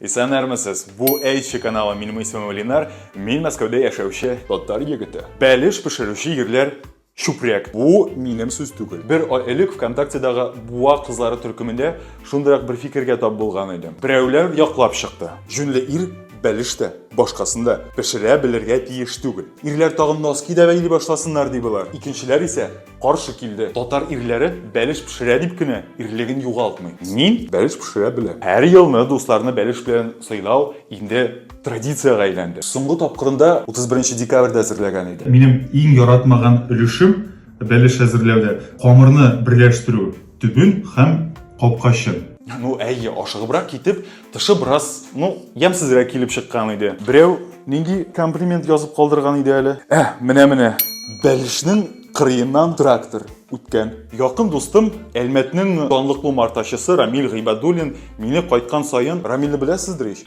Исәнермесез! Бу Эйчи каналы Минем исемем Ленар, мин Мәскәүдә яшәүче татар егете. Бәлеш пешерүче җирләр чүпрәк. Бу минем сүз түгел. Бер ай элек ВКонтактедагы Буа кызлары төркемендә шундыйрак бер фикергә тап булган идем. Берәүләр яклап чыкты. Җүнле ир бәлеш тә, башкасын да пешерә белергә тиеш түгел. Ирләр тагын носки дә бәйли башласыннар, ди болар. Икенчеләр исә, каршы килде. Татар ирләре бәлеш пешерә дип кенә ирлеген югалтмый. Мин бәлеш пешерә беләм. Һәр елны дусларны бәлеш белән сыйлау инде традициягә әйләнде. Соңгы тапкырында 31 декабрьдә әзерләгән идем. Минем иң яратмаган өлешем бәлеш әзерләүдә, камырны берләштерү. Төбен һәм капкачын. Ну, әйе, ашыгыбрак китеп, тышы бераз, ну, ямсезрәк килеп чыккан иде. Берәү нинди комплимент язып калдырган иде әле? Ә, менә-менә. Бәлешнең кырыеннан трактор үткән. Якын дустым, Әлмәтнең данлыклы умартачысы Рамил Гыйбадуллин мине кайткан саен, Рамилне беләсездер ич?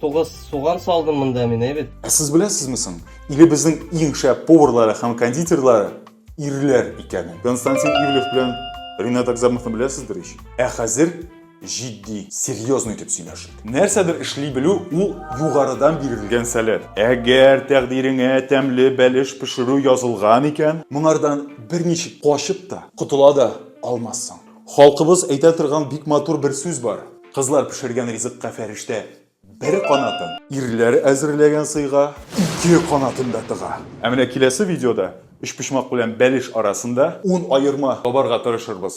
Тугыз суган салдым монда мин, әйбет. Ә сез беләсезме соң, илебезнең иң шәп поварлары һәм кондитерлары ирләр икәнен? Константин Ивлев белән Ринат Акзамовны беләсездер ич. Ә хәзер җитди, серьезный итеп сөйләшик. Нәрсәдер эшли белү ул югарыдан бирелгән сәләт. Әгәр тәкъдиреңә тәмле бәлеш пешерү язылган икән, моңардан берничек качып та, котыла да алмассың. Халкыбыз әйтә торган бик матур бер сүз бар, Кызлар пешергән ризыкка фәрештә бер канатын, ирләр әзерләгән сыйга ике канатын да тыга. Ә менә киләсе видеода өчпочмак белән бәлеш арасында ун аерма табарга тырышырбыз.